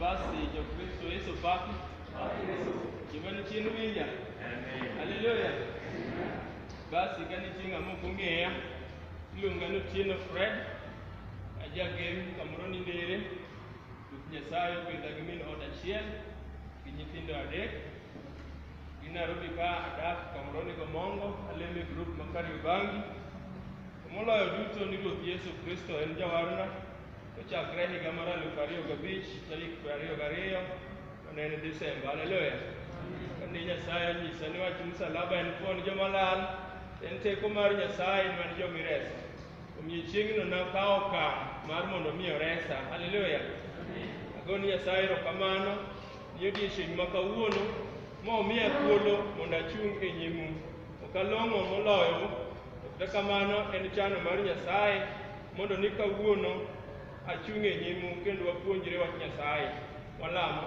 Basi Jokristo Yesu papi. Jamani chien winja. Haleluya. Basi kani chieng' amo kong'eya. Iluonga ni Otieno Fred. Ajagem kamoro ni Ndere. Ruoth Nyasaye opidha gi min ot achiel gi nyithindo adek. In Nairobi ka adak Kamroni Gomongo, alemo e grup ma Kariobangi. To moloyo duto ni Ruoth Yesu Kristo en jawarna, to chakre higa mar aluf ariyo gabich tarik piero ariyo gariyo to ne en Desemba. Haleluya! Kane Nyasaye onyisa ni wach msalaba en pon joma lal, en teko mar Nyasaye ni wan joma ireso. Omiyo chieng'no nakawo okang' mar mondo mi oresa. Haleluya. Ago ni Nyasaye erokamano ni odiechieng' ma kawuono momiya thuolo mondo achung' e nyimu. Ok along'o moloyo, to kata kamano en chano mar Nyasaye mondo ni kawuono achung' e nyimu kendo wapuonjre wach Nyasaye. Walamo.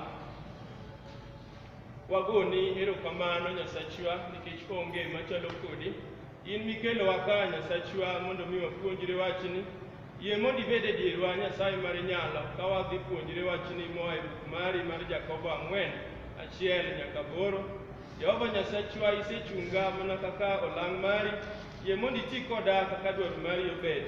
Wagoni erokamano Nyasachwa nikech onge machalo kodi. In mikelowa ka, Nyasachwa, mondo mi wapuonjre wachni, yie mondo ibed e dierwa, Nyasaye mar inyalo, ka wadhi puonjre wachni moa e buk mari mar Jakobo ang'wen, achiel nyaka aboro. Jehova Nyasachwa, isechunga mana kaka olang' mari, yie mondo iti koda kaka dwaro mari obed.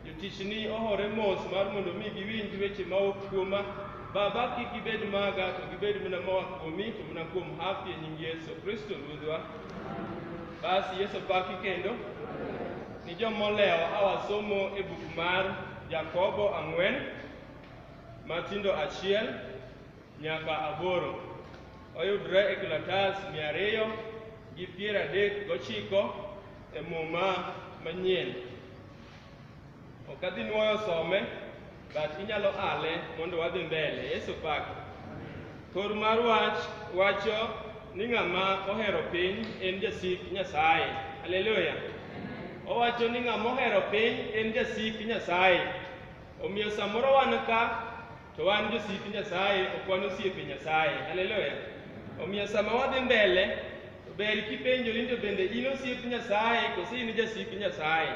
Jotichni ohore mos mar mondo mi giwinj weche mawuok kuoma. Baba, kik gibed maga, to gibed mana moa kuomi, to mana kuom hapi e nying Yesu Kristo Ruodhwa. Basi Yesu paki kendo ni jomolewo awasomo e buk mar Jakobo ang'wen matindo achiel nyaka aboro oyudre e kalatas mia ariyo gi piero adek gochiko e muma manyien. Ok adhi nwoyo some, but inyalo ale mondo wadhi mbele. Yesu pak. Kor mar wach wacho ni ng'ama ohero piny en jasik Nyasaye. Haleluya. Owacho ni ng'ama ohero piny en jasik Nyasaye. Omiyo samoro wan ka to wan josik Nyasaye, ok wan osiepe Nyasaye. Haleluya. Omiyo sama wadhi mbele, to ber kipenjori ni to bende in osiep Nyasaye koso in jasik Nyasaye.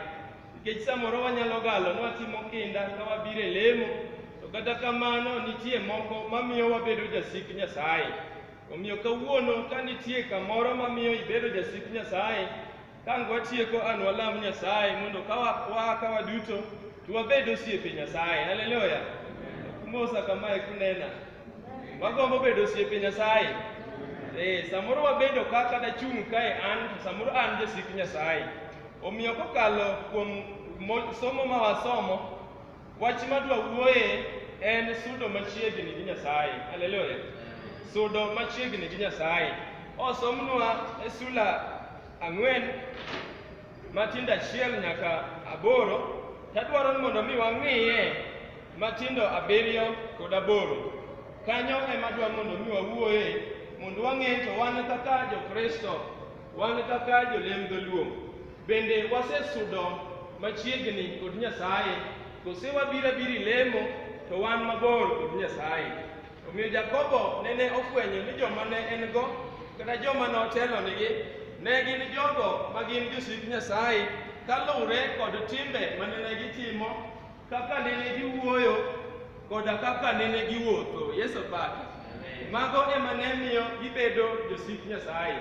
Nikech samoro wanyalo galo ni watimo kinda ka wabiro e lemo, to kata kamano nitie moko mamiyo wabedo jasik Nyasaye. Omiyo kawuono ka nitie kamoro mamiyo ibedo jasik Nyasaye, kang watieko an walam Nyasaye mondo ka wa- waa ka waduto to wabed osiepe Nyasaye. Haleluya! Kumosa kamae kunena. Wagombo bedo osiepe Nyasaye. Eh, samoro wabedo ka kata chung' kae an, to samoro an jasik Nyasaye. Omiyo kokalo kuom mo- somo ma wasomo, wach madwa wuoye en sudo machiegni gi Nyasaye. Haleluya. Sudo machiegni gi Nyasaye. Osomnwa e sula ang'wen matindo achiel nyaka aboro, tadwaro ni mondo mi wang'iye matindo abiriyo kod aboro. Kanyo ema dwa mondo mi wawuoye mondo wang'e to wan kaka jo-Kristo Wan kaka jolem dholuo bende wasesudo machiegni kod Nyasaye kose wabiro abiri lemo to wan mabor kod Nyasaye. Omiyo Jakobo nene ofwenyo ni joma ne en go kata joma notelonigi ne gin jogo ma gin josik Nyasaye kaluwre kod timbe mane ne gitimo kaka nene giwuoyo koda kaka nene giwuotho. Yesu opaki. Mago ema ne miyo gibedo josik Nyasaye.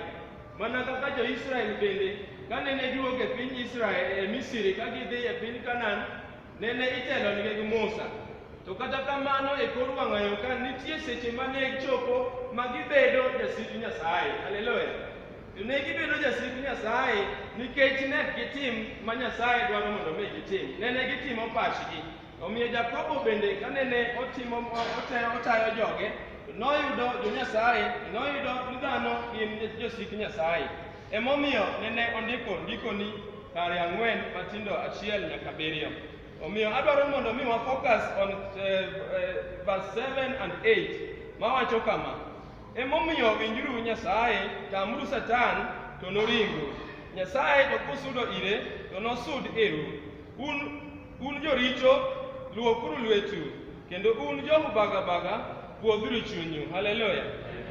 Mana kaka jo-Israel bende, ka nene giwuok e piny Israel e Misri ka gidhi e piny Kanan, nene itelonigi gi Musa. To kata kamano e kor wang'ayo ka nitie seche ma ne chopo ma gibedo jasik Nyasaye. Haleluya! To ne gibedo jasik Nyasaye nikech ne ok gitim ma Nyasaye dwaro mondo mi gitim. Ne ne gitimo pachgi. Omiyo Jakobo bende kane ne otimo otayo, otayo joge, noyudo jo-Nyasaye, noyudo ni dhano gin josik Nyasaye. Emomiyo nene ondiko ndikoni kare ang'wen matindo achiel nyaka abiriyo. Omiyo adwaro mondo mi wa focus on eh, eh, verse 7 and 8 mawacho kama. Emomiyo winjuru Nyasaye, tamuru Satan, to noringu. Nyasaye to kusudo ire, to nosud iru. Un, un joricho, luokuru lwetu, kendo un jomubagabaga, pwodhuru chunyu. Haleluya!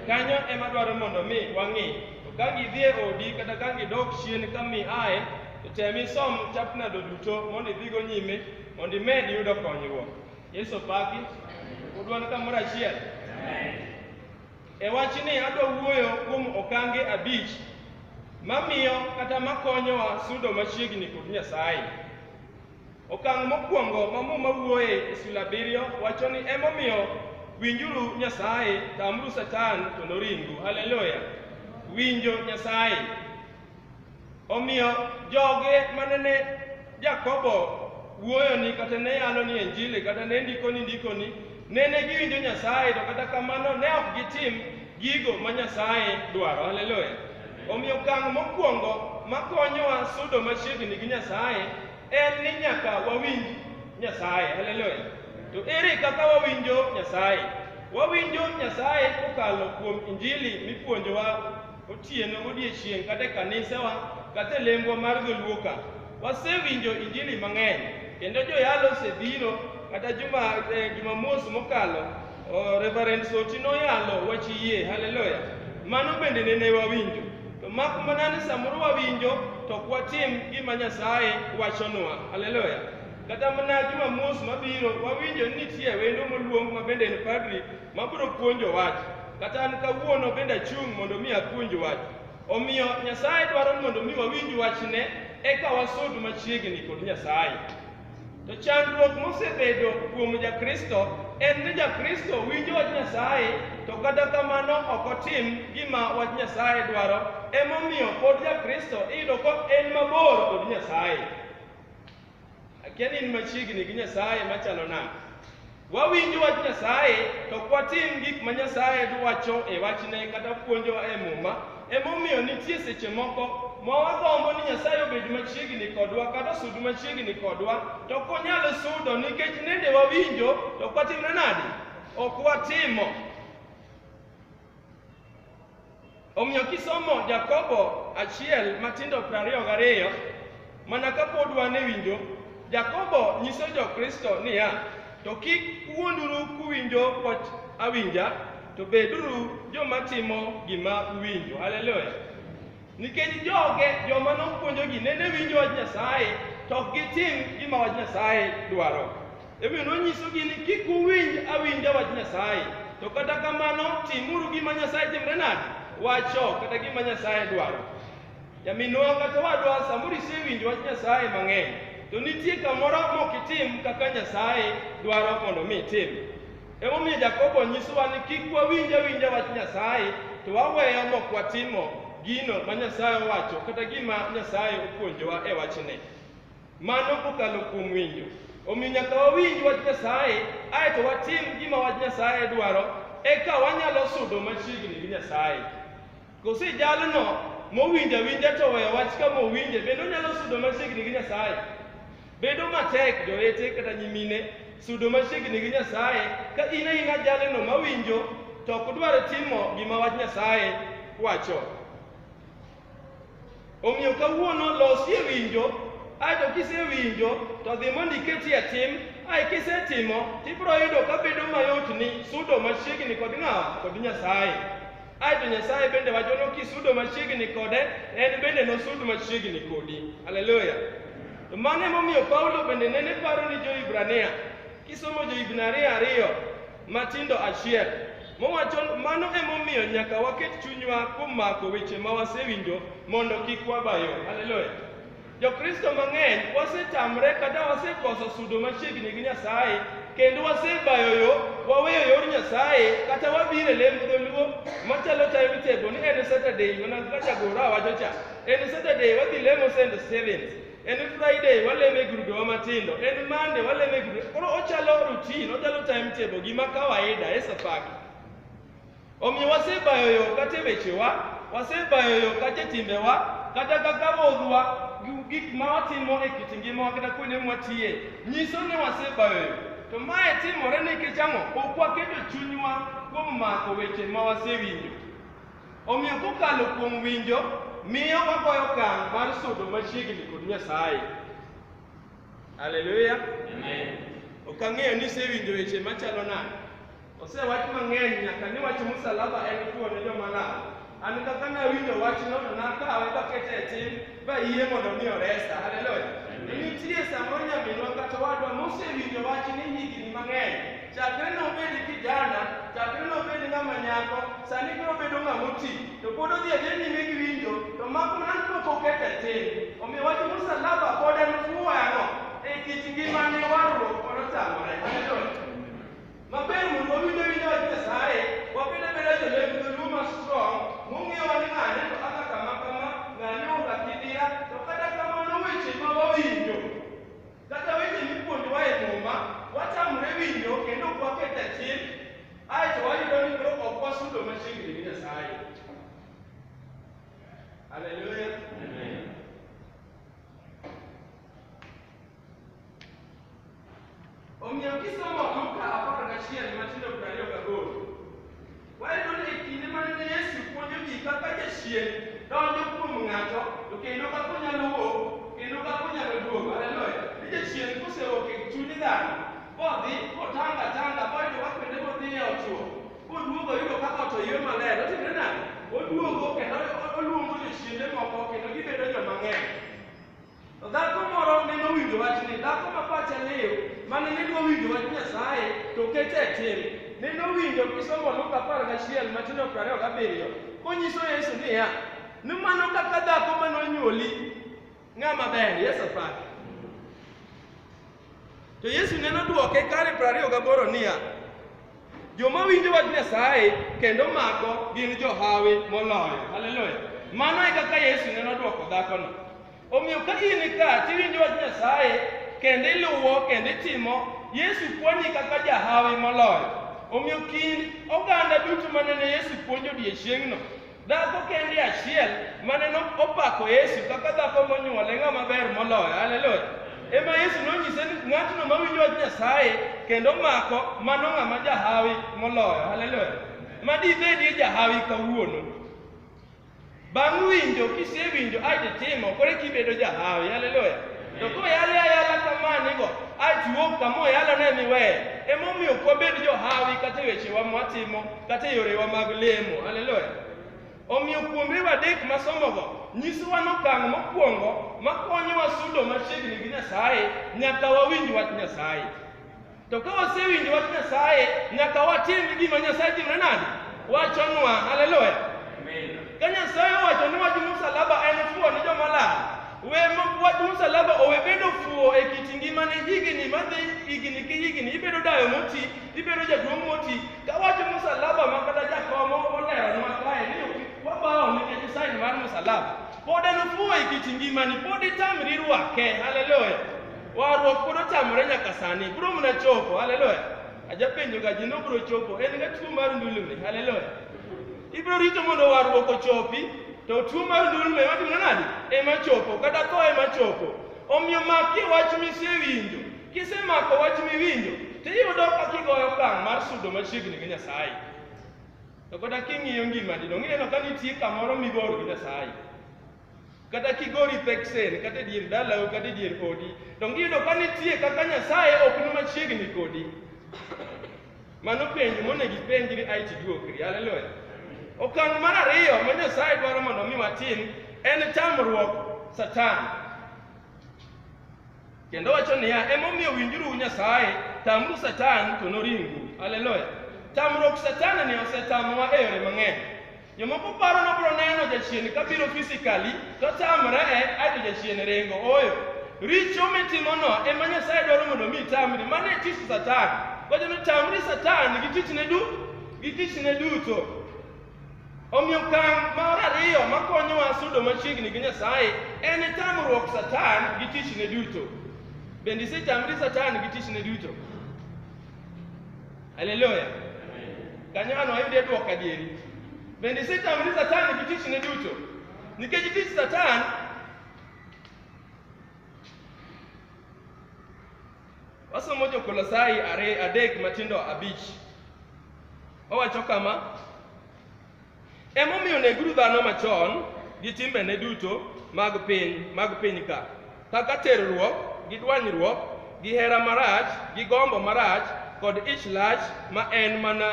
Kanyo ema dwaro mondo mi wang'i. To ka gidhie odi kata ka gidok chien ka mi ae, to tem isom chapnado duto mondo idhigo nyime mondo imed yudo konyruok. Yesu opaki. Udwan kamoro achiel. E wachni adwa wuoyo kuom okange abich mamiyo kata makonyowa sudo machiegni kod Nyasaye. Okang' mokwongo ma Muma wuoye e sula abiriyo wacho ni emomiyo winjuru Nyasaye, tamuru Satan to noringu. Haleluya! Winjo Nyasaye. Omiyo joge mane ne Jakobo wuoyoni kata ne yaloni e Injili kata ne ndikoni ndikoni nene giwinjo Nyasaye to kata kamano ne ok gitim gigo ma Nyasaye dwaro. Haleluya! Omiyo okang' mokwongo makonyowa sudo machiegni gi Nyasaye en ni nyaka wawinj Nyasaye. Haleluya! To ere kaka wawinjo Nyasaye? Wawinjo Nyasaye kokalo kuom Injili mipuonjowa Otieno godiechieng' kata e kanisewa kata e lembwa mar dholuoka wasewinjo injili mang'eny kendo joyalo osebiro kata juma eh, jumamos mokalo oh, Reverend Soti noyalo wach yie haleluya mano bende nene wawinjo to mak mana ni samoro wawinjo to ok watim gima Nyasaye wachonwa haleluya kata mana jumamos mabiro wawinjo ni nitie wendo moluong ma bende en padri mabiro puonjo wach, kata an kawuono bende achung' mondo mi apuonj wach. Omiyo Nyasaye dwaro ni mondo mi wawinj wachne eka wasud machiegni kod Nyasaye. To chandruok mosebedo kuom Jakristo en ni Jakristo winjo wach Nyasaye to kata kamano ok otim gima wach Nyasaye dwaro. Emomiyo pod Jakristo iyudo ka en mabor kod Nyasaye. Akia ni in machiegni gi Nyasaye machalo nade. Wawinjo wach Nyasaye to ok watim gik ma Nyasaye dwacho e wachne kata puonjowa e Muma. Emomiyo nitie seche moko ma wagombo ni Nyasaye obed machiegni kodwa kata osud machiegni kodwa to ok onyal sudo nikech nende wawinjo to ok watimre nade? Ok watimo. Omiyo kisomo Jakobo achiel matindo prariyo gariyo, mana kapod wan e winjo, Jakobo nyiso jo-Kristo niya, to kik uwuonduru kuwinjo wach awinja, to beduru joma timo gima uwinjo. Haleluya! Nikech joge joma nopuonjogi nene winjo wach Nyasaye to ok gitim gima wach Nyasaye dwaro. Emomiyo nonyisogi ni kik uwinj awinja wach Nyasaye, to kata kamano timuru gima Nyasaye timre nade wacho kata gima Nyasaye dwaro. Nyaminwa kata wadwa samoro isewinjo wach Nyasaye mang'eny, to nitie kamoro mok itim kaka Nyasaye dwaro mondo mi itim. Emomiyo Jakobo nyisowa ni kik wawinj awinja wach Nyasaye to waweyo mok watimo gino ma Nyasaye owacho kata gima Nyasaye opuonjowa e wachne. Mano kokalo kuom winjo. Omiyo nyaka wawinj wach Nyasaye ae to watim gima wach Nyasaye dwaro eka wanyalo sudo machiegni gi Nyasaye. Koso jalno mowinjo awinja to oweyo wach kama owinje, bende onyalo sudo machiegni gi Nyasaye? Bedo matek jowete kata nyimine sudo machiegni gi Nyasaye ka in aina jalno mawinjo to ok dwar timo gima wach Nyasaye wacho. Omiyo kawuono losi e winjo, ae to kisewinjo to dhi mondo iketi e tim, ae kisetimo to ibiro yudo ka bedo mayotni sudo machiegni kod ng'awa? Kod Nyasaye. Ae to Nyasaye bende wacho ni kisudo machiegni kode, en bende nosud machiegni kodi. Haleluya! To mano emomiyo Paulo bende nene paro ni jo-Hibrania. Kisomo jo-Hibrania ariyo, matindo achiel mowacho mano emomiyo nyaka waket chunywa kuom mako weche ma wasewinjo mondo kik wabayo haleluya jokristo mang'eny wasetamre kata wasekoso sudo machiegni gi nyasaye kendo wasebayo yo waweyo yor nyasaye kata wabiro e lemo dholuo machalo time table ni en saturday mana kaka jagoro awacho cha en saturday wadhi lemo st stevens en Friday waleme grubewa matindo, en Monday waleme grube. Koro ochalo routine, ochalo timetable gima kawaida e safari. Omiyo wasebayo yo kata e wechewa, wasebayo yo kata e timbewa, kata kaka modhwa, gi- gik ma watimo e kit ngimawa kata kuonde mwatiye, nyiso ni wasebayo yo. To mae timore nikech ang'o? Ok waketo chunywa kuom mako weche ma wasewinjo. Omiyo kokalo kuom winjo, miyo wagoyo okang' mar sudo machiegni kod Nyasaye. Haleluya! Ok ang'eyo ni isewinjo weche machalo nade. Osewach mang'eny nyaka ni wach msalaba en tuo ne joma lal. An kaka nawinjo wachno to nakawe kakete e tim ba yie mondo mi oresa. Haleluya. Nitie samoro nyaminwa kata wadwa mosewinjo wach ni higni mang'eny. Chakre nobed kijana, chakre nobed ng'ama nyako, sani koro obedo ng'ama oti. To pod odhi adhi nyime gi winjo, to mako nan pok oket e tim. Omiyo wach msalaba pod en fwano e kit ngimane warruok kod otamore. Haleluya. Maber mondo wawinj awinja wach Nyasaye, wabed abeda jolep dholuo ma strong, mong'eyo wani ng'ane to aka kama kama, ng'ane oka kidira, to kata kamano weche ma wawinjo, kata weche mipuonjowa e muma, watamre winjo kendo ok waket achien, ae to wayudo ni koro ok wasudo machiegni gi Nyasaye. Haleluya. Omiyo kisomo Luka apar gachiel matindo piero ariyo gaboro, wayudo ni e kinde mane ne Yesu puonjo ji kaka jachien donjo kuom ng'ato to kendo kaka onyalo wuok kendo kaka onyalo duogo. Haleluya! Ni jachien kosewuok e chuny dhano kodhi kotanga tanga koyudo ka kuonde modhiye otuo koduogo oyudo kaka ot oywe maler otimre nade? Oduogo kendo oluongo jochiende moko kendo gibedo joma ng'eny. To dhako moro ne nowinjo wachni, dhako ma pache liw, mane ne dwa winjo wach Nyasaye to kete e tim. Ne nowinjo kisomo Luka apar gachiel matindo piero ariyo gabiriyo konyiso Yesu niya, ni mano kaka dhako ma nonyuoli ng'ama ber. Yesu opaki. To Yesu ne nodwoke kare piero ariyo gaboro niya, Joma winjo wach Nyasaye kendo mako gin johawi moloyo. Haleluya! Mano e kaka Yesu ne nodwoko dhakono. Omiyo ka in ka tiwinjo wach Nyasaye kendo iluwo kendo itimo, Yesu puonji kaka jahawi moloyo. Omiyo kind oganda duto ma nene Yesu puonjo odiechieng'no, Dhako kende achiel mane no opako Yesu kaka dhako monyuole ng'ama ber moloyo. Haleluya. Ema Yesu nonyise ni ng'atno mawinjo wach Nyasaye kendo mako mano ng'ama jahawi moloyo. Haleluya. Ma dibedie jahawi kawuono. Bang' winjo kisewinjo ai titimo kore kibedo jahawi. Haleluya. To koyale ayala kamanigo ai tiwuok kama oyalone miweye. Emomiyo ok wabed johawi kata e wechewa mwatimo kata e yorewa mag lemo. Haleluya! Omiyo kuombewa adek masomogo nyisowa nokang' mokwongo makonyowa sudo machiegni gi Nyasaye nyaka wawinj wach Nyasaye. To ka wasewinjo wach Nyasaye nyaka watim gima Nyasaye timre nade? Wachonwa. Haleluya! Ka Nyasaye owacho ni wach msalaba en fuwo ni joma lal, we mo- wach msalaba owe bedo fuwo e kit ngimani higni madhi higni ki higni, ibedo dayo moti, ibedo jaduong' moti, Kawacho musalaba ma kata jakomo oleronwa kae ni wabawo nikech sign mar musalaba. Pod en ofuwo e kit ngimani, pod itamri rwake. Haleluya. Warruok pod otamore nyaka sani. Bro mna chopo. Haleluya. Ajapenjo ga ji nobro chopo. En ga tuo mar ndulme. Haleluya. Ibro rito mondo warruok ochopi, to tuo mar ndulme watimo nadi? Ema chopo, kata tho ema chopo. Omiyo makie wach misewinjo. Kisemako wach miwinjo, to iyudo ka kigoyo okang' mar sudo machiegni gi Nyasaye. To kata king'iyo ngimani, donge ineno ka nitie kamoro migoro gi Nyasaye? Kata kigori peksen, kata e dier dalau, kata e dier odi, donge iyudo ka nitie kaka Nyasaye ok ni machiegni kodi? Mano penjo monego ipenjri ae tiduokri. Haleluya. Okang' mar ariyo ma Nyasaye dwaro mondo mi watim en tamruok Satan. Kendo wacho niya, emomiyo winjuru Nyasaye, tamru Satan to noringu. Haleluya. Tamruok Satan ni osetamowa e yore mang'eny. Jomoko paro ni obiro neno jachien ka biro physically to tamre e aito jachien ringo. Ooyo. Richo mitimono ema Nyasaye dwaro mondo mi itamri. Mano e tich Satan. Wacho ni tamri Satan gi tichne du gi tichne duto. Omiyo okang' mar ariyo ma konyowa sudo machiegni gi Nyasaye en tamruok Satan gi tichne duto. Bende isetamri Satan gi tichne duto? Haleluya! Kanyono ayude dwoko adieri. Bende isetamri Satan gi tichne duto? Nikech tich Satan Wasomo Jokolosai are adek matindo abich. Owacho kama, Emomiyo neguru dhano machon gi timbene duto mag piny mag piny ka, kaka terruok gi dwanyruok gi hera marach gi gombo marach kod ich lach ma en mana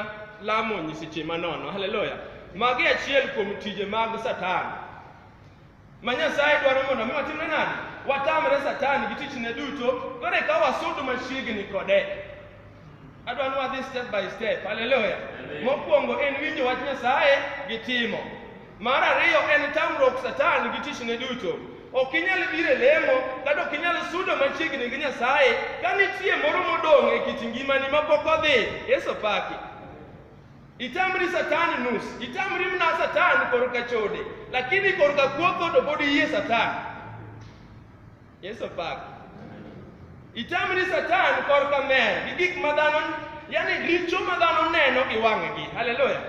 lamo nyiseche manono. Haleluya! Magi achiel kuom tije mag Satan. ma Nyasaye dwaro mondo mi watimre nade? Watamre Satan gi tichne duto, koro eka wasud machiegni kode. Adwa ni wadhi step by step. Haleluya. Mokwongo en winjo wach Nyasaye gi timo. Mar ariyo en tamruok Satan gi tichne duto. Ok inyal biro e lemo kata ok inyal sudo machiegni gi Nyasaye ka nitie moro modong' e kit ngimani ma pok odhi. Yesu paki. Itamri Satan nus, itamri mna Satan korka chode, lakini korka kuoko to pod iyie Satan. Yesu pak. Itamri Satan korka mer gi gik ma dhano, yani richo ma dhano neno gi wang'gi. Haleluya.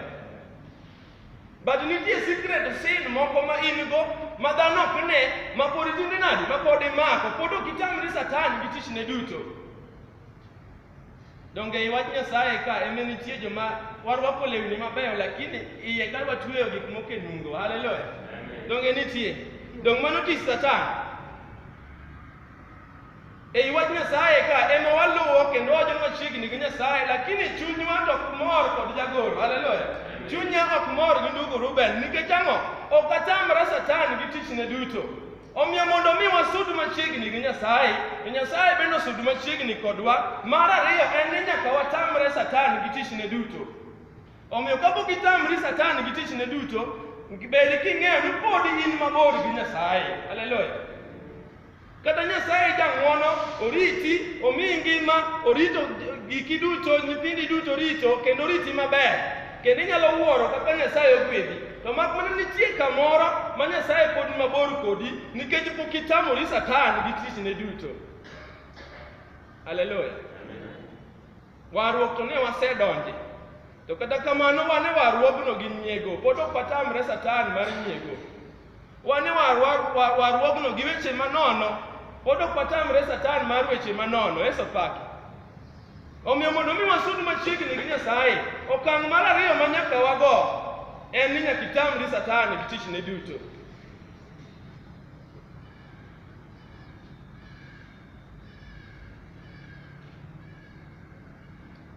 But nitie secret sin moko ma in go ma dhano ok ne, ma pod itinde nadi, ma pod imako, pod ok itamri Satan gi tichne duto. Donge ei wach Nyasaye ka eme nitie joma warwako lewni mabeyo lakini iye ka watweyo gik moko e nungo. Haleluya. Donge nitie? Donge mano tich Satan? Ei wach Nyasaye ka ema waluwo kendo wajo machiegni gi Nyasaye lakini chunywa to ok mor kod jagoro. Haleluya. Chunya ok mor gi ndugu Ruben nikech ang'o? Ok atamra Satan gi tichne duto. Omiyo mondo mi wasud machiegni gi Nyasaye, to Nyasaye bende osud machiegni kodwa. Mar ariyo en ni nyaka watamre Satan gi tichne duto. Omiyo kapok itamri Satan gi tichne duto, bed king'eyo ni pod in mabor gi Nyasaye. Haleluya. Kata Nyasaye jang'wono, oriti, omiyi ngima, orito giki duto, nyithindi duto orito, kendo oriti maber. kendo inyalo wuoro kaka Nyasaye ogwedhi. To mak mana nitie kamoro ma Nyasaye pod ni mabor kodi nikech pok itamori Satan gi tichne duto. Haleluya. Warruok to ne wasedonje. To kata kamano wan e warruogno gi nyiego, pod ok watamre Satan mar nyiego. Wan e warwa- wa- warruogno gi weche manono, pod ok watamre Satan mar weche manono, Yesu paki. Omiyo mondo mi wasud machiegni gi Nyasaye, okang' mar ariyo ma nyaka wago en ni nyaka itamri Satan gi tichne duto.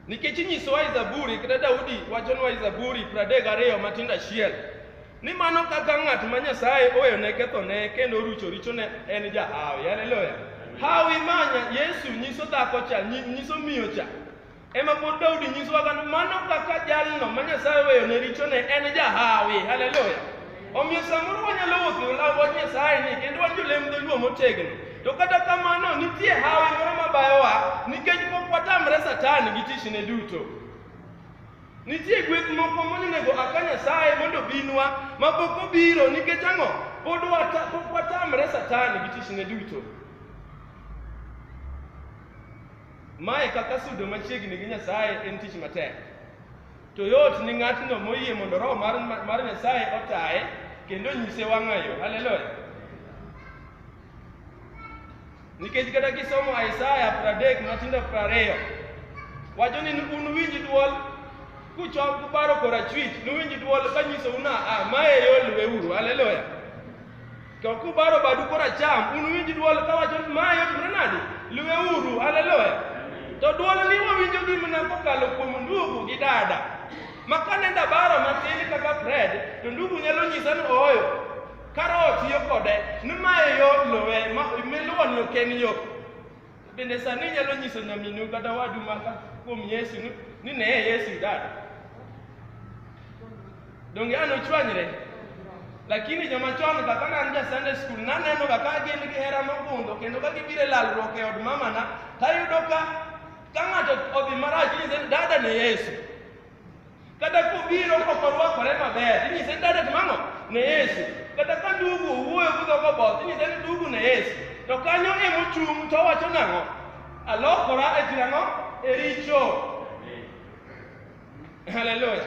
Nikech inyisowa i Zaburi kata Daudi wachonwa i Zaburi pradek gariyo matindo achiel ni mano kaka ng'at ma Nyasaye oweyone kethone kendo orucho richone en jahawi. Haleluya! Hawi manya Yesu nyiso dhako cha, nyi- nyiso miyo cha. Ema pod Daudi nyisowa kano mano kaka jalno ma Nyasaye oweyone richone en jahawi. Haleluya! Omiyo samoro wanyalo uso law wach Nyasaye ni kendo wan jolem dholuo motegno. To kata kamano nitie hawi moro mabayowa nikech pok watamre Satan gi tichne duto. Nitie gweth moko monego aka Nyasaye mondo binwa ma pok obiro nikech ang'o? Pod wata, pok watamre Satan gi tichne duto. Mae kaka sudo machiegni gi Nyasaye en tich matek. To yot ni ng'atno moyie mondo Roho mar, mar Nyasaye otaye kendo nyise wang'ayo. Haleluya! Nikech kata kisomo Isaya pradek matindo prariyo wacho ni un winj dwol kuchok kuparo korachwich, nuwinj dwol kanyisou na a ma e yo luweuru. Haleluya! To kubaro badu koracham, unuwinj dwol kawacho ni ma yot mana nadi? Luweuru, haleluya. To dwol ni wawinjo gi mana kokalo kuom ndugu gi dada. Ma kane ndabaro matin kaka Fred, to ndugu nyalo nyisa ni ooyo, kar otiyo kode, ni mae yot luwe, ma miluwo ni ok en yo. Bende sani inyalo nyiso nyaminu kata wadu maka kuom Yesu ni- ni neye Yesu idada. Donge an ochwanyre? Lakini joma chon kaka ne an ja Sunday school naneno ga ka gin gi hera mogundho kendo ka gibiro e lalruok e od mamana tayudo ka ka ng'ato odhi marach inyise ni dada ne Yesu. Kata kobiro ok orwakore maber, inyise ni dada timang'o ne Yesu. Kata ka ndugu owuoyo gi dhogo both, inyise ni ndugu ne Yesu. To kanyo ema ochung' to owacho nang'o? Alokora e tira ang'o? E richo. Haleluya.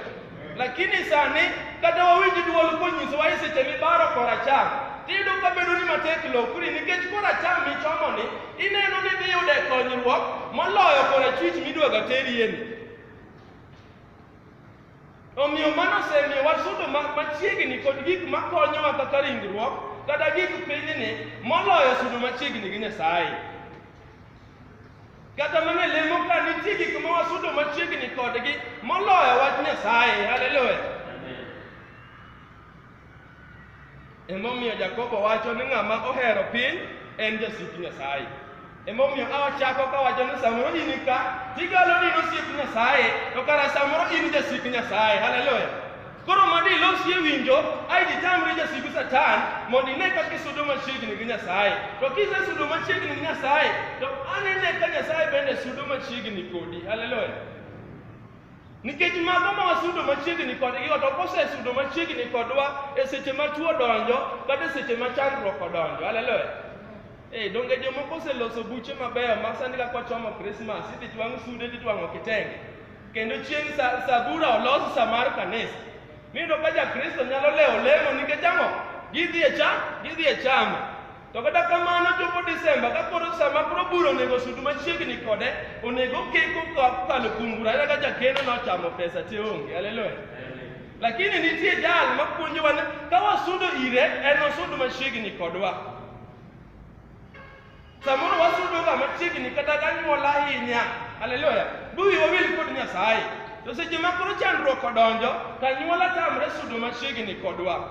Lakini sani kata wawinj duol konyisowa e seche mibaro koracham, tiyudo ka bedo ni matek lokri nikech koracham michomo ni ineno ni dhi yude konyruok moloyo korachwich midwaga terieni. Omiyo mano osemiyo wasudo ma- machiegni kod gik makonyowa kaka ringruok kata gik pinyni moloyo sudo machiegni gi Nyasaye. Kata mana e lemo ka nitie gik ma wasudo machiegni kodgi moloyo wach Nyasaye. Haleluya! Emomiyo Jakobo wacho ni ng'ama ohero piny en jasik Nyasaye. Emomiyo awachako kawacho ni samoro in ka tigalo ni nosiep Nyasaye to kara samoro in jasik Nyasaye. Haleluya. Koro mondo ilosie winjo ai ditamri jasigu Satan mondo ine kaka isudo machiegni gi Nyasaye. To kisesudo machiegni gi Nyasaye to anene ka Nyasaye bende sudo machiegni kodi. Haleluya. Nikech mago ma wasudo machiegni kodgi ot ok osesudo machiegni kodwa e seche ma tuo donjo kata e seche ma chandruok odonjo. Haleluya. Eh, donge jomoko oseloso buche mabeyo ma sani kaka wachomo Krismas idhi twang' sude titwang'o kitenge. Kendo chieng' sa, sabura olos sa mar kanisa. Miyudo ka Jakristo nyalo lewo lemo nikech ang'o? Gidhi e cham, gidhi e chama. To kata kamano chopo Desemba ka koro sama koro bura onego sudu machiegni kode onego keko kokalo kuom bura ayudo ka jakeno nochamo pesa te onge haleluya lakini nitie jal mapuonjowa ni ka wasudo ire en osudu machiegni kodwa samoro wasudo ga machiegni kata ganyuola ahinya haleluya buwi wawil kod nyasaye to seche ma koro chandruok odonjo to anyuola tamre sudo machiegni kodwa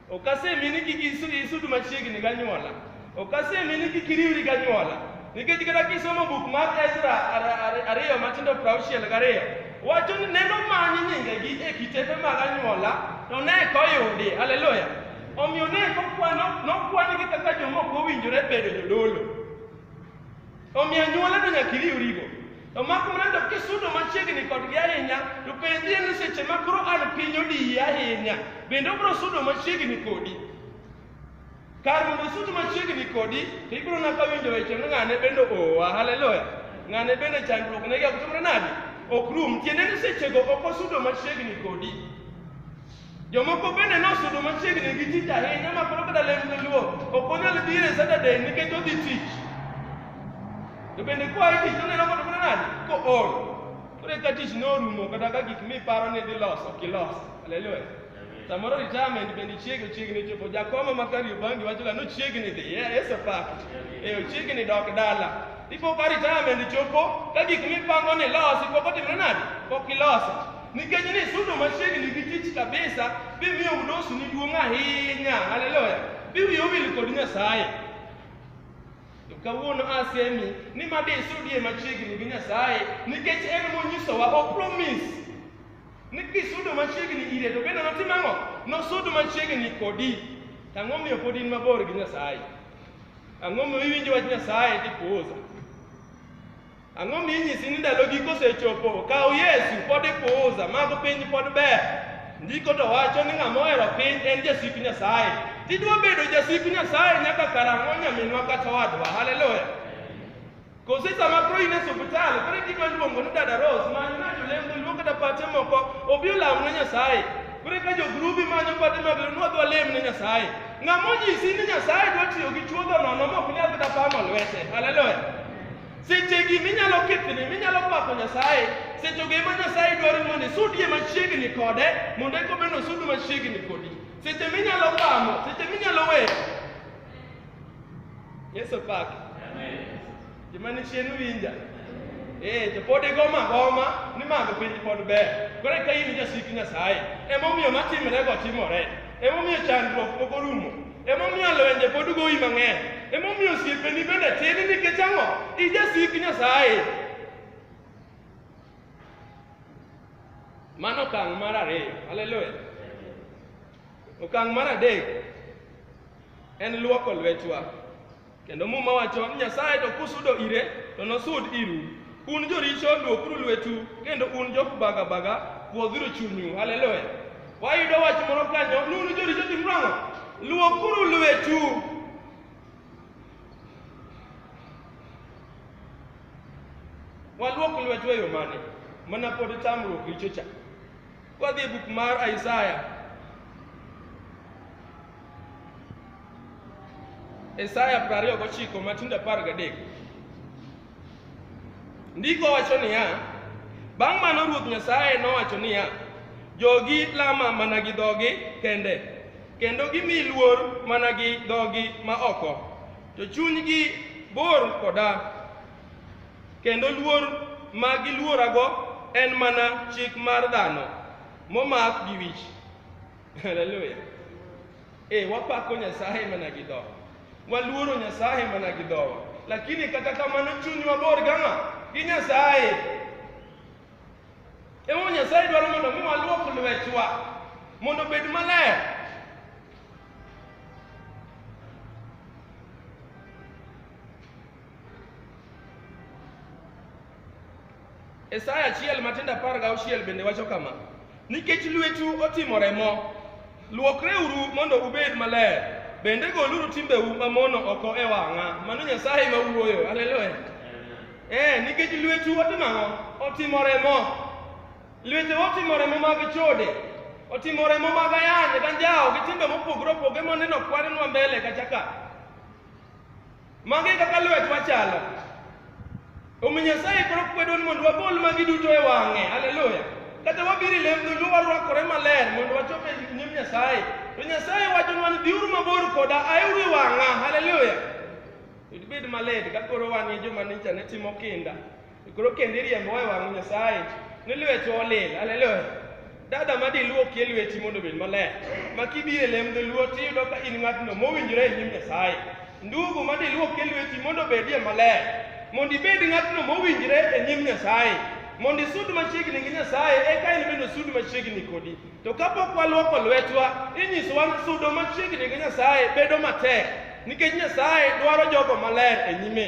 Ok asemi ni kik isu- isudu machiegni ganyuola. Ok asemi ni kik iriwri ganyuola. Nikech kata kisomo buk mar Ezra ar- ar- ariyo matindo prauchiel gariyo, wacho ni neno manyi nyingegi e kitepe mag anyuola, to ne eka oyudi. Haleluya! Omiyo ne eka okwano- nokwanigi kaka joma ok owinjore bedo jodolo. Omiyo anyuola to nyaka iriwrigo. To mak mana to kisudo machiegni kodgi ahinya, to penjie ni seche ma koro an piny odiyi ahinya, bende obiro sudo machiegni kodi. Kar mondo osud machiegni kodi, to ibiro naka winjo weche ni ng'ane bende oa, haleluya. Ng'ane bende chandruok negi ok timre nadi? Ok rum. Tiende ni sechego ok osudo machiegni kodi. Jomoko bende nosudo machiegni gi tich ahinya ma koro kata lem luo ok onyal biro e Saturday nikech odhi tich. To bende kwa e tich oneno kod mana nade ko or. Koro ka tich norumo kata ka gik miparo ni idhi loso ok ilos. Haleluya. Samoro retirement bende chiegni chiegni chopo. Jakoma ma Kariobangi wacho ga nochiegni dhi. Yeah, Yesu pak. Eh ochiegni dok dala. Ipo ka retirement chopo ka gik mipango ni losi pok otimre nade? Pok iloso. Nikech ni sudo machiegni gi tich kabisa, bimiyo udosu ni duong' ahinya. Haleluya. Biwiyo wil kod Nyasaye. To kawuono asemi ni ma disudie machiegni gi Nyasaye nikech en monyisowa o promise ni kisudo machiegni ire to bende notim ang'o? Nosud machiegni kodi. To ang'o miyo pod in mabor gi Nyasaye? Ang'o miyo iwinjo wach Nyasaye tipuoza? Ang'o minyisi ni ndalo giko osechopo? Kaw Yesu, pod ipuuza, mag piny pod ber. Ndiko to wacho ni ng'ama ohero piny en jasik Nyasaye. Tidwa bedo jasik Nyasaye nyaka karang'o nyaminwa kata wadwa? Haleluya! Kose sama koro in e suptal, koro gidwa luongo ni dada Rose, many ng'ato lendo luongo kata pache moko, obi olam ne Nyasaye. Koro ka jogrubi manyo pache mag lendo, wadwa lem ne Nyasaye. Ng'ama onyisi ni Nyasaye dwa tiyo gi chuodho nono mok nyal kata pamo lwete. Haleluya! Sechegi minyalo kethni, minyalo pako Nyasaye, sechego ema Nyasaye dwaro mondo isudie machiegni kode, mondo eka obed nosudu machiegni kodi. Seche minyalo pamo, seche minyalo weyo. Yesu opaki. Joma ni chien winja. Eh, to pod igoma agoma ni mago piny pod ber. Koro eka in jasik Nyasaye. Emomiyo matimrego timore. Emomiyo chandruok ok orumo. Emomiyo lwenje pod goyi mang'eny. Emomiyo osiepeni bende tin nikech ang'o? Ijasik Nyasaye. Mano okang' mar ariyo. Haleluya. Okang' mar adek en luoko lwetwa. Kendo Muma wacho ni Nyasaye to kusudo ire to nosud iru. Un joricho luokuru lwetu kendo un jok baga baga puodhuru chunyu. Haleluya. Wayudo wach moro kanyo ni un joricho timuru ang'o? Luokuru lwetu. Waluok lwetu e yo mane? Mana pod tamruok richo cha. Wadhi e buk mar Isaya Isaya 29 matindo 13. Ndiko wacho niya, bang' mano Ruoth Nyasaye nowacho niya, jogi lama mana gi dhogi kende, kendo gimi luor mana gi dhogi ma oko, to chunygi bor koda, kendo luor ma giluorago en mana chik mar dhano momak gi wich. Haleluya. Eh, wapako Nyasaye mana gi dhowa. Waluoro Nyasaye mana gi dhowa. Lakini kata kamano chunywa bor gang'a gi Nyasaye. Emo Nyasaye dwaro mondo mi waluok lwetwa mondo obed maler. Isaya achiel matindo apar gauchiel bende wacho kama, nikech lwetu otimo remo, luokreuru mondo ubed maler, bende goluru timbeu mamono oko e wang'a. Mano Nyasaye ma wuoyo, haleluya. Eh, nikech lwetu otimo ang'o? Otimo remo. Lwete otimo remo mag chode, otimo remo mag ayany, ganjawo gi timbe mopogore opogore moneno kwanenwa mbele kacha ka. Magi e kaka lwetwa chalo. Omiyo Nyasaye koro kwedo ni mondo wagol magi duto e wang'e. Haleluya. Kata wabiro e lembno mi warwakore maler mondo wachop e nyim Nyasaye. To Nyasaye wachonwa ni biuru mabor koda aeuru e wang'a. Haleluya. Ibed maler ka koro wan e joma nicha ne timo kinda. E koro kendo iriembo e wang' Nyasaye ni lwetu olil. Haleluya. Dada ma diluokie lweti mondo obed maler. Ma kibiro e lem dholuo tiyudo ka in ng'atno mowinjore e nyim Nyasaye. Ndugu ma diluokie lweti mondo obedie maler. Mondo ibed ng'atno mowinjore e nyim Nyasaye. Mondo isud machiegni gi Nyasaye eka en bende osud machiegni kodi. To kapok waluoko lwetwa, inyisowa ni sudo machiegni gi Nyasaye bedo matek nikech Nyasaye dwaro jogo maler e nyime.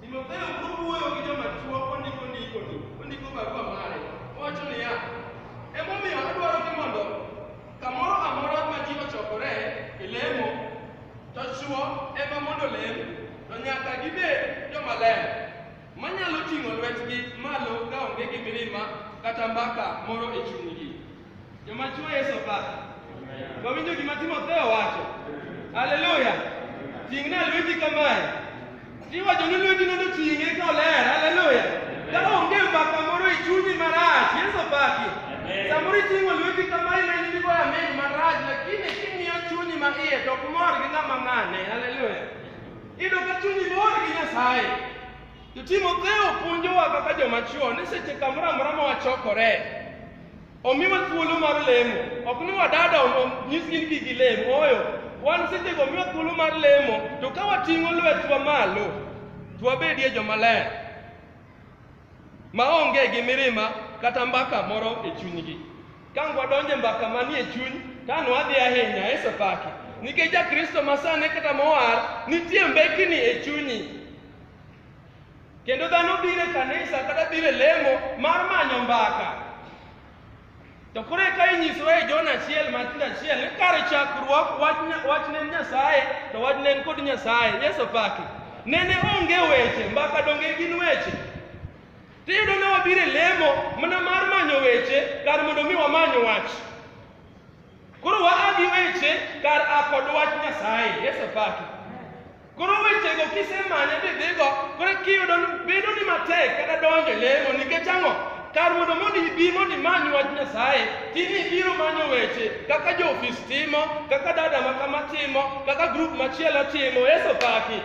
Timotheo kowuoyo gi joma chwo ondiko ndikoni, ondiko barua mare, owacho niya, emomiyo adwaro ni mondo kamoro amora ma ji ochokore e lemo, to chwo ema mondo olem, to nyaka gibed joma ler, manyalo ting'o lwetgi malo kaonge gi mirima kata mbaka moro e chunygi. Joma chwo Yesu opa. Wawinjo gima Timotheo wacho. Haleluya. Ting'na lweti kamae. Tiwacho ni lweti nondo ting'e ka oler. Haleluya. Ka onge mbaka moro e chunyi marach, Yesu opaki. Samoro iting'o lweti kamae ma in digo amen marach, lakini king'iyo chunyi ma iye to ok mor gi ng'ama ng'ane. Haleluya. Iyudo ka chunyi mor gi Nyasaye. To Timotheo puonjowa kaka joma chwo ni seche kamoro amora ma wachokore, Omiwa thuolo mar lemo. Ok ni wadada nyisgi ni gigi lemo. Oyo, wan sechego omiwa thuolo mar lemo, to ka wating'o lwetwa malo, to wabedie joma ler, ma onge gi mirima kata mbaka moro e chunygi. Ka wadonjo e mbaka manie chuny, kano wadhi ahinya e sopaki. Nikech ja Kristo ma sani kata mowar, nitie mbekni e chunyi. Kendo dhano biro e kanisa kata biro e lemo mar manyo mbaka. To koro eka inyisowa e Jona achiel matindo achiel ni kar chakruok wach nya- wach ne en Nyasaye to wach ne en kod Nyasaye. Yesu opaki. Nene onge weche, mbaka donge gin weche. Tiyudo ni wabiro e lemo mana mar manyo weche kar mondo mi wamany wach. Koro waa gi weche kar a kod wach Nyasaye. Yesu opaki. Koro wechego kisemanye bidhigo, koro kiyudo ni bedo ni matek kata donjo e lemo nikech ang'o? Kar mondo mondo ibi mondo imany wach Nyasaye, tini ibiro manyo weche kaka jo-ofis timo, kaka dada ma kama timo, kaka grup machielo timo, Yesu paki.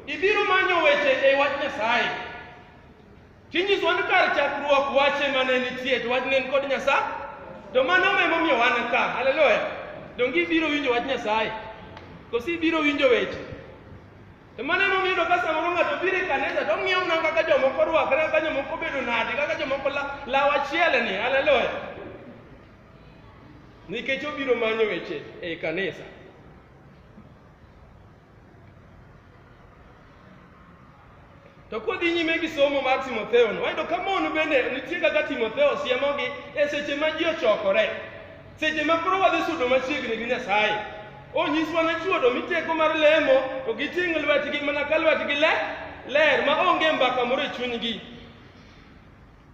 Ibiro manyo weche e wach Nyasaye. Chinyiso ni kar chakruok wache mane nitie to wach ne kod Nyasaye. To mano ma emomiyo wan ka. Haleluya. Donge ibiro winjo wach Nyasaye? Kosi ibiro winjo weche. To mano emomiyo iyudo ka samoro ng'ato biro e kanisa to ong'iyo mana kaka jomoko rwakre, kaka jomoko bedo nade, kaka jomoko la- law achiel ni. Haleluya. Nikech obiro manyo weche e kanisa. To kodhi nyime gi somo mar Timotheo no, wayudo ka mon bende nitie kaka Timotheo siemogi e seche ma ji ochokore. Seche ma koro wadhi sudo machiegni gi Nyasaye. Onyiswa ne chuodo miteko mar lemo to giting' lwetgi mana ka lwetgi le ler ma onge mbaka moro e chunygi.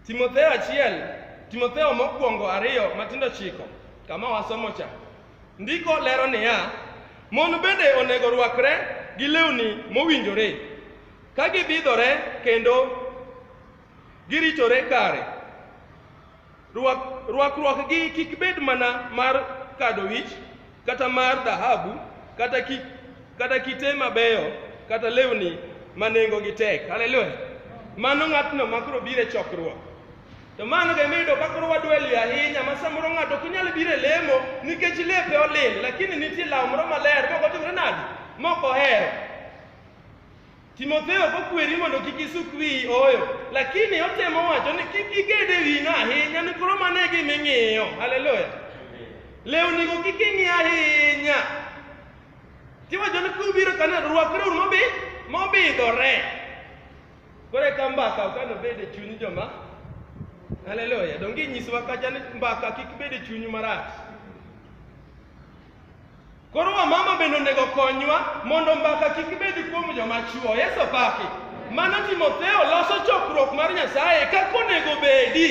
Timotheo achiel, Timotheo mokwongo ariyo matindo chiko, kama wasomo cha. Ndiko lero niya, Mon bende onego rwakre gi lewni mowinjore, ka gibidhore kendo giritore kare. Rwak, rwakruokgi kik bed mana mar kado wich, kata mar dhahabu, kata, ki, kata kite mabeyo, kata lewni ma nengogi tek. Haleluya! Mano ng'atno ma koro biro e chokruok. To mano be miyudo ka koro wadwelio ahinya ma samoro ng'ato ok nyal biro e lemo nikech lepe olil, lakini nitie law moro maler mok otimre nadi? Mok ohero. Timotheo ok okweri mondo kik isuk wiyi, ooyo, lakini otemo wacho ni kik iged e wino ahinya ni koro mano e gima ing'iyo. Haleluya! Lewnigo kik ing'i ahinya. Tiwacho ni kubiro kanisa, rwakreuru mobi- mobidhore. Koro eka mbaka ok ano bed e chuny joma Haleluya. Donge inyisowa kacha ni mbaka kik bed e chunyu marach. Koro wamama bende onego konywa mondo mbaka kik bed kuom joma chwo. Yesu opaki. Mano Timotheo loso chokruok mar Nyasaye kaka onego bedi.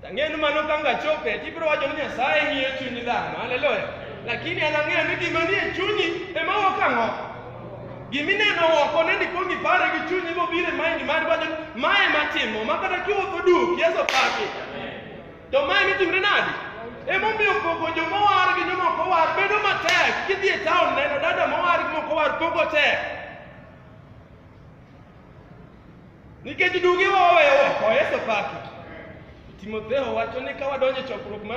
Ang'eyo ni mano ka ngachope to ibiro wacho ni Nyasaye ng'iyo chuny dhano. Haleluya. Lakini an ang'eyo ni gima nie chunyi ema wuok ang'o? Gima ineno oko ne ndiko ngipare gi chunyi mobiro e mind mari wacho ni mae matimo ma kata kiwuotho duk Yesu paki. To mae mitimre nadi? Emomiyo pogo joma owar gi joma ok owar bedo matek. Kidhi e taon neno dada mowar gi mok owar pogo tek. Nikech duge waweyo oko, Yesu paki. Timotheo wacho ni ka wadonjo e chokruok mar